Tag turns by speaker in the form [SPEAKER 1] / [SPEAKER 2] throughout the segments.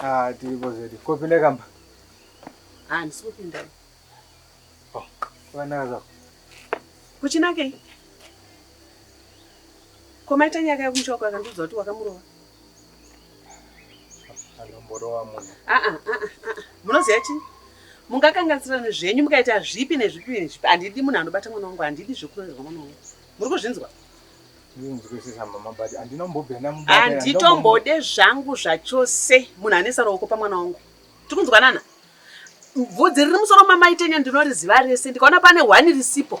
[SPEAKER 1] Ah,
[SPEAKER 2] tiripo zvedu
[SPEAKER 1] kopinda kamba handisi
[SPEAKER 2] ah, kupinda oh,
[SPEAKER 1] kuvanaka zvako
[SPEAKER 2] kuchinakei komaita nyaka yekumushoko akandiudza kuti wakamurova
[SPEAKER 1] Ah, ah, ah,
[SPEAKER 2] munoziva chii mungakanganisirana zvenyu mukaita zvipi nezvipi nezvipi handidi munhu anobata mwana wangu handidi zvekunoizwa mwana wangu muri kuzvinzwa
[SPEAKER 1] handitombode
[SPEAKER 2] zvangu zvachose munhu anesa ruoko pamwana wangu tiri kunzwanana bvudzi riri musoro mamaitenya ndinoriziva rese ndikaona pane hwani risipo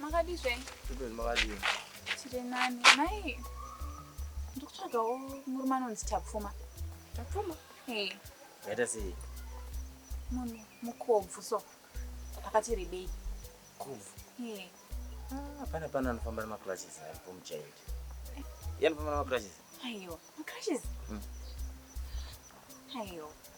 [SPEAKER 3] Makadii zvenyu? Zvibeni makadii?
[SPEAKER 4] Tiri nani.
[SPEAKER 3] Mai, ndiri kutsvagawo murume anonzi Tapfuma. Tapfuma?
[SPEAKER 4] Hey. Yaita sei? Munhu
[SPEAKER 3] mukobvu so. Akati rebei. Kobvu?
[SPEAKER 4] Hey. Ah, pana pana anofamba nemacrashes ari pomuchaindi. Eh. Iye anofamba nemacrashes? Aiwa, macrashes?
[SPEAKER 3] Mm. Aiwa.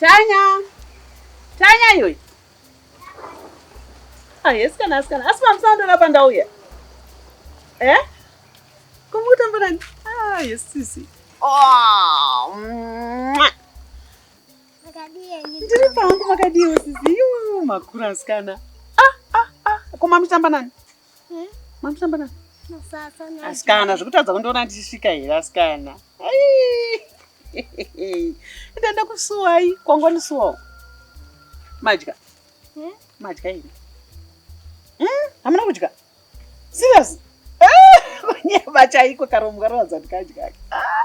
[SPEAKER 5] Tanya.
[SPEAKER 2] Tanya iyoyi. Ah, yes kana asikana. Asi mamusandona pandauya. Eh? Kumutamba nani? Ah, yes sisi. Oh. Ndiri pangu makadii sisi. Yoo, makura asikana. Ah, ah, ah. Koma mutamba nani? Eh, Mamutamba na? Musasa na. Asikana zvekutadza kundiona ndichisvika here asikana? Ai. Enda ndakusuwai kwangonisuwawo. Madya. Eh? Madya here? Hmm? Hamuna kudya? Serious? Ah, kunyeba chaiko karomo karoradza ndikadya. Ah.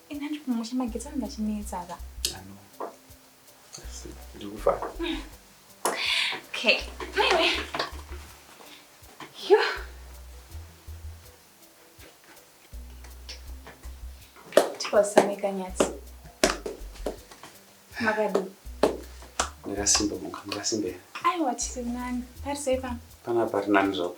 [SPEAKER 5] Ina ndiri
[SPEAKER 3] kumusha magetsi anenge achinetsa apa. Ano.
[SPEAKER 5] Asi ndiri kufara.
[SPEAKER 3] Okay. Maiwe. Yo. Tikosamika nyatsi. Makadii?
[SPEAKER 5] Ndakasimba muka, ndakasimba here? Aiwa tiri
[SPEAKER 3] nani. Pari sei pano? Panapa pari nani
[SPEAKER 5] zvapo.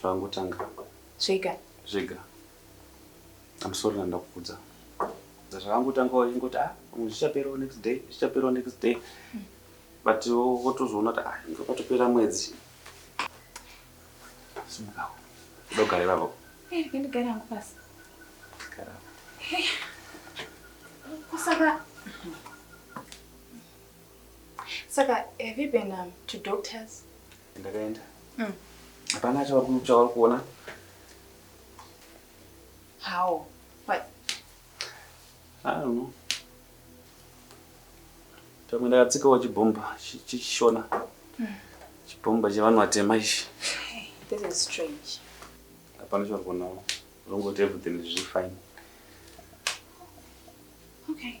[SPEAKER 5] zvangotanga zvega zvega I'm sorry ndanga ndakukudza zvakangotanga wachingoti ah pamwe zvichaperawo next day zvichaperawo next day but wotozoona kuti ah inga patopera mwedzi simukawo kuda kugara ivavo Eh, ndigare hangu
[SPEAKER 3] pasi gara
[SPEAKER 5] Eh, ko saka
[SPEAKER 3] saka have you been um, to doctors ndakaenda
[SPEAKER 5] mm. hapana mm. chauri chauri kuona
[SPEAKER 3] how
[SPEAKER 5] what i don't know pamwe ndakatsikawo chibhomba chechishona mm. chibhomba chevanhu vatema ichi this is
[SPEAKER 3] strange hapana chauri
[SPEAKER 5] kuonawo zongoti everything zviri fine okay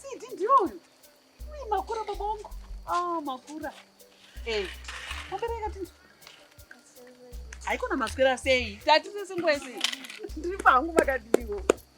[SPEAKER 2] Sidi ndiyo uyu. Uyu makura baba wangu. Ah, makura. Eh, wabereka tinzwa. Haikona maswera sei? Tati sese ngwese. Ndiri pangu makadiniwo.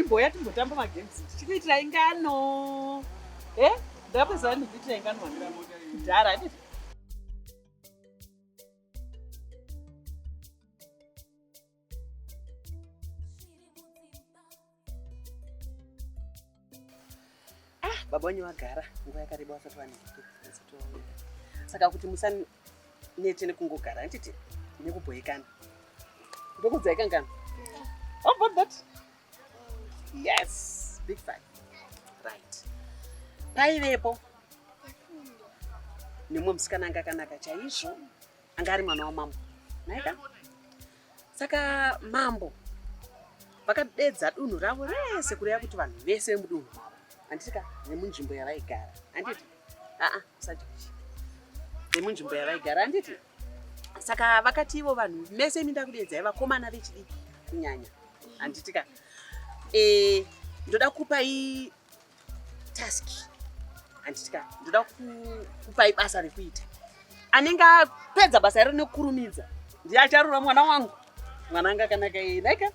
[SPEAKER 2] imboya timbotamba magames tichikuitira ingano eh? ndapezaa ndikuitira ingano kudhara baba wenyu vagara nguva yakareba vasati vaneke vasati vaoneka saka kuti musanete nekungogara handiti nekubhoyekana ndokudzai kangano how about that yes big five right paivepo nemumwe musikana anga akanaka chaizvo anga ari mwana wamambo maika saka mambo vakadedza dunhu ravo rese kureva kuti vanhu vese vemudunhu mavo handitika nemunzvimbo yavaigara handiti aa usati nemunzvimbo yavaigara handiti saka vakati ivo vanhu mese imi ndakudeedzai vakomana vechidiki kunyanya handitika e, ndoda kupai task handitya ndoda kupai basa rekuita anenge apedza basa iro nekukurumidza ndiye acharura mwana wangu mwana anga akanaka naika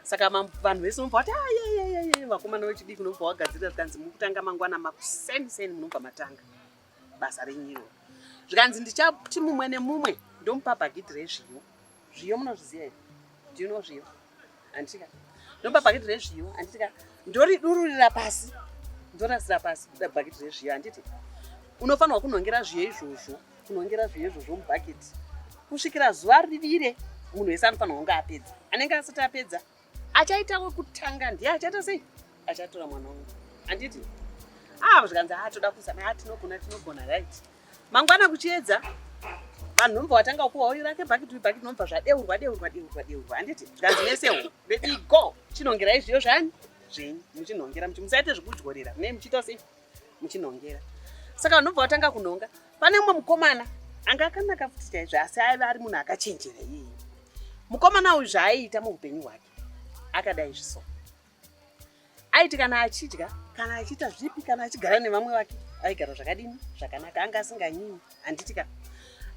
[SPEAKER 2] saka vanhu vese unobva wati ayeyeyeye ah, vakomana vechidiki unobva wagadzirira zvikanzi mukutanga mangwana makuseni seni munobva matanga basa renyu iroro zvikanzi ndichati mumwe nemumwe ndomupa bhagidhi rezviyo zviyo munozviziva here ndino zviyo handitika ndomupa bhagidhi rezviyo handitika ndoridururira pasi ndorasira pasi kuda bhagidhi rezviyo handiti unofanirwa kunhongera zviyo izvozvo kunhongera zviyo izvozvo mubhagidhi kusvikira zuva rivire munhu wese anofanirwa kunge apedza anenge asati apedza achaita wekutanga ndiye achaita sei achatora mwana wangu handiti aa ah, zvikanzi haa ah, toda kuzana haa ah, tinogona tinogona right mangwana kuchiedza vanhu nomva watanga kuwa uyu rake bhakiti uyu bhakiti nomva zvadeurwa deurwa deurwa deurwa handiti zvikanzi mese ho bedi go chinongerai zviyo zvani zvenyu muchinhongera muchi musaite zvekudyorera mune muchiita sei muchinhongera saka vanhu nomva watanga kunhonga pane umwe mukomana anga akanaka futi chaizvo asi aive ari munhu akachenjera iyeye mukomana uyu zvaaiita muupenyu hwake akadai zviso aiti kana achidya kana achiita zvipi kana achigara nevamwe vake aigara zvakadini zvakanaka anga asinganyini handitika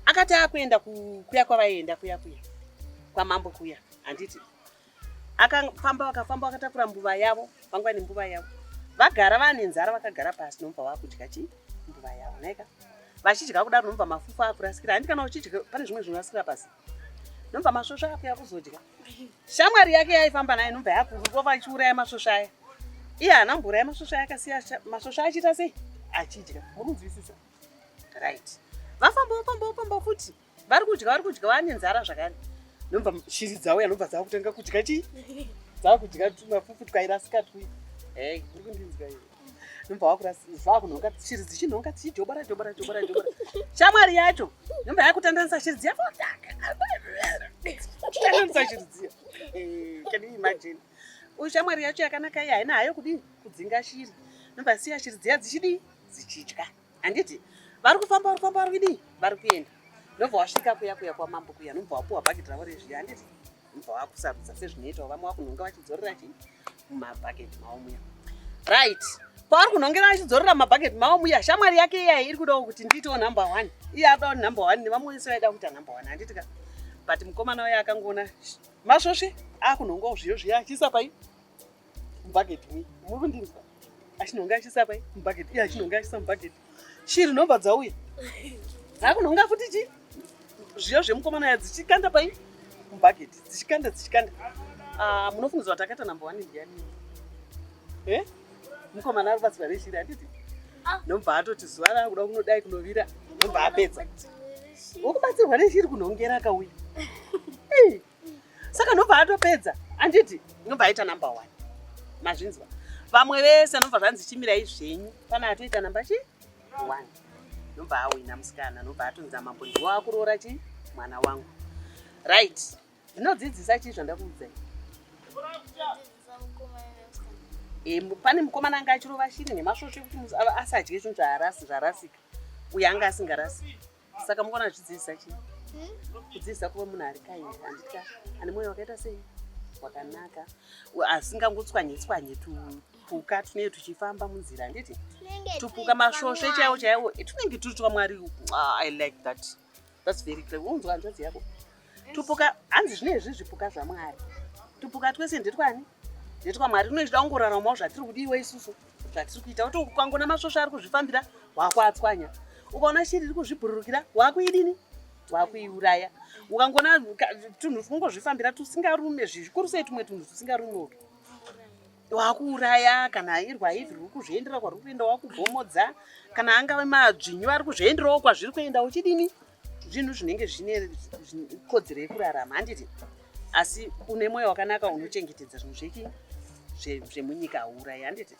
[SPEAKER 2] akati akuenda kuya kwavaienda kuya kuya kwamambo kuya handiti akafamba vakafamba vakatakura mbuva yavo vanga vane mbuva yavo vagara vane nzara vakagara pasi nomva vakudya chii mbuva yavo naika vachidya kudaro nomva mafufu akurasikira handi kana uchidya pane zvimwe zvinorasikira pasi nomva masvosva akuya kuzodya shamwari yake yaifamba naye nomva yakurova achiuraya masvosva aya iye haana kumbouraya masvosva aya akasiya masvosva achiita sei achidya mukunzwisisa right vafamba vafamba vafamba futi vari kudya vari kudya vane nzara zvakare ndomva shiri dzavo yanobva dzava kutanga kudya chii dzava kudya tumafufu twairasika twi ei uri kundinzwa iyo ndomva vakurasizvava kunhonga shiri dzichinhonga dzichidhobora dhobora dhobora dhobora shamwari yacho ndomva yakutandanisa shiri dziya tandanisa shiri dziya eh, can you imagine uyu shamwari yacho yakanaka iyi haina hayo kudii kudzinga shiri ndomva siya shiri dziya dzichidii dzichidya handiti vari kufamba vari kufamba vari kudii vari kuenda ndobva wasvika kuya kuya kwamambo kuya nobva wapuwa bhaketi ravo rezviya handiti nobva wakusarudza sezvinoitawo vamwe wakunhonga vachidzorera chii mumabhaketi mavo muya right paari kunhongera achidzorera mabhaketi mavo muya shamwari yake iyayi iri kudawo kuti ndiitewo number one iye abawo number one nevamwe wese vaida kuita number one handiti ka but mukomana uya akangoona masvosve akunhongawo zviyo zviya achiisa pai Bucket me. Muri kundinzwa? Achinonga achisa pai? Bucket. Iye achinonga achisa bucket. Shiri nhomba dzauya. Dzakunonga futi chi? Zviyo zvemukomana ya dzichikanda pai? Bucket. Dzichikanda dzichikanda. Ah, munofungidzwa kuti akaita number 1 ndiyani? Eh? Mukomana ari pasi pare shiri anditi? Ah. Nobva atoti zuva rakuda kunodai kunovira. Nobva apedza. Ukubatsirwa neshiri kunhongera kauya. saka ndobva atopedza anditi ndobva aita number one mazvinzwa vamwe vese anobva zvanzi chimirai zvenyu pana atoita namba chi one nobva awina musikana nobva atonzi amambo ndiwo akuroora chi mwana wangu right ndinodzidzisa chii zvandakuudzai e, eh, pane mukomana anga achirova shiri nemasvosve kuti asadye zvinhu zvarasika uyo anga asingarasiki saka mukona zvidzidzisa chii hmm? kudzidzisa kuva munhu ari kaini anditya ane mwoyo wakaita sei wakanaka asingangotswanye tswanye tupuka tunenge tuchifamba munzira handiti tupuka masvosve chaiwo chaiwo eh, tunenge turi twamwari ah, i like that thats very clever unzwa hanzvadzi yako tupuka hanzi zvine izvi zvipuka zvamwari tupuka twese ndetwani ndetwamwari tinochida kungoraramawo zvatiri kudiwa isusu zvatiri kuita kuti ukangona masvosva ari kuzvifambira waakuatswanya ukaona shiri iri kuzvibhururukira waakuidini waakuiuraya ukangona tunhu twungozvifambira tusingarume zvikuru sei tumwe tunhu tusingarume utu wakuuraya kana irwa hivi riri kuzviendera kwariri kuenda wakubomodza kana angave madzvinyu ari kuzvienderawo kwazviri kuenda uchidini zvinhu zvinenge zvine kodzero yekurarama handiti asi une mwoyo wakanaka unochengetedza zvinhu zveki zvemunyika hauurayi handiti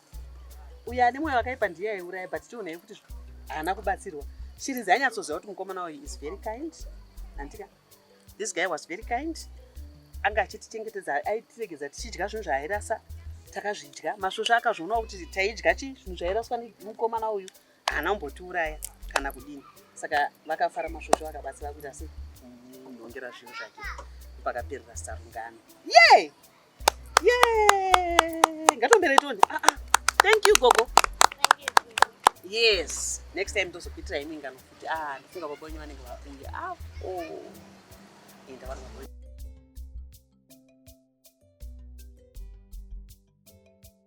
[SPEAKER 2] uyo ane mwoyo wakaipa ndiye aiuraya but tionai kuti haana kubatsirwa shiri dzainyatsoziva kuti mukomana uyu is very kind handika this guy was very kind anga achitichengetedza aitiregedza tichidya zvinhu zvaairasa takazvidya masvosva akazvionawo kuti taidya chi zvinhu zvairaswa nemukomana uyu haana kumbotiuraya kana kudini saka vakafara masvosvo vakabatsira kuita se munhongera zvinhu zvake pakaperera sarungano ye ye ngatombere toni aa ah, ah. thank you gogo yes next time tozokuitira imwe ingano futi a ah, ndifunga baba wenyu vanenge vakunge apo enda vari baba